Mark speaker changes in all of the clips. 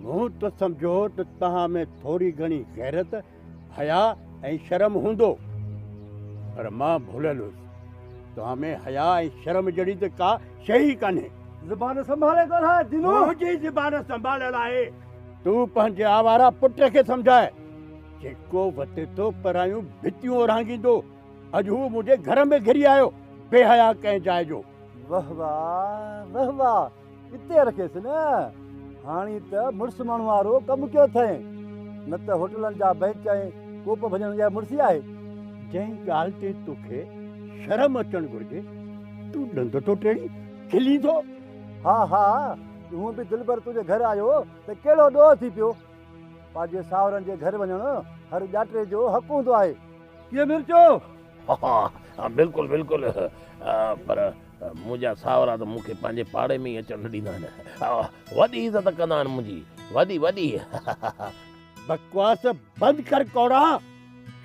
Speaker 1: مون ته سمجهيو ته توهان ۾ ٿوري گهڻي غيرت، حياء ۽ شرم هوندو، پر مان ڀليل هيس. توهان ۾ حياء ۽ شرم جهڙي ته ڪا شيء ئي ڪانهي. زبان سنڀالي
Speaker 2: ڳالهاء دينو. منهنجي زبان
Speaker 1: سنڀاليل آهي. تون پنهنجي آواره پٽ کي سمجهاء، جيڪو وتي ٿو پرايون ڀتيون اورهانگيندو. اڄ هو منهنجي گهر ۾ گهري آيو، بي حياء ڪنهن جاء جو. وهوا
Speaker 2: وهوا. اتي رکيس نه هاڻي ته مڙس ماڻهو وارو ڪم ڪيو اٿئي نه ته هوٽلن جا بئنچ ۽ ڪوپ ڀڄڻ جا مڙسي آهي جنهن ڳالهه
Speaker 1: تي توکي شرم اچڻ گهرجي تون ڏند ٿو ٽيڙي کلي ٿو ها ها
Speaker 2: هون به دلبر تنهنجي گهر آيو ته ڪهڙو ڏوهه ٿي پيو پنهنجي ساهرن جي گهر وڃڻ هر ڄاٽي جو حق هوندو آهي ڪيئن مرچو
Speaker 3: ها ها بلڪل بلڪل پر منهنجا ساهورا ته مون کي پنهنجي پاڙي ۾ ئي اچڻ نه ڏيندا آهن. وڏي عزت ڪندا آهن منهنجي. وڏي وڏي.
Speaker 1: بڪواس بند ڪر ڪوڙا.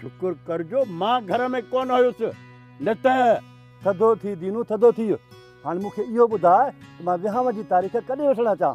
Speaker 1: شڪر ڪر جو مان گهر ۾ ڪونه هيس نه ته. ٿڌو ٿي
Speaker 2: دينو ٿڌو ٿي. هاڻ مون کي اهو ٻڌاء ته مان ويهانء جي تاريخ ڪڏهن وٺڻ اچان؟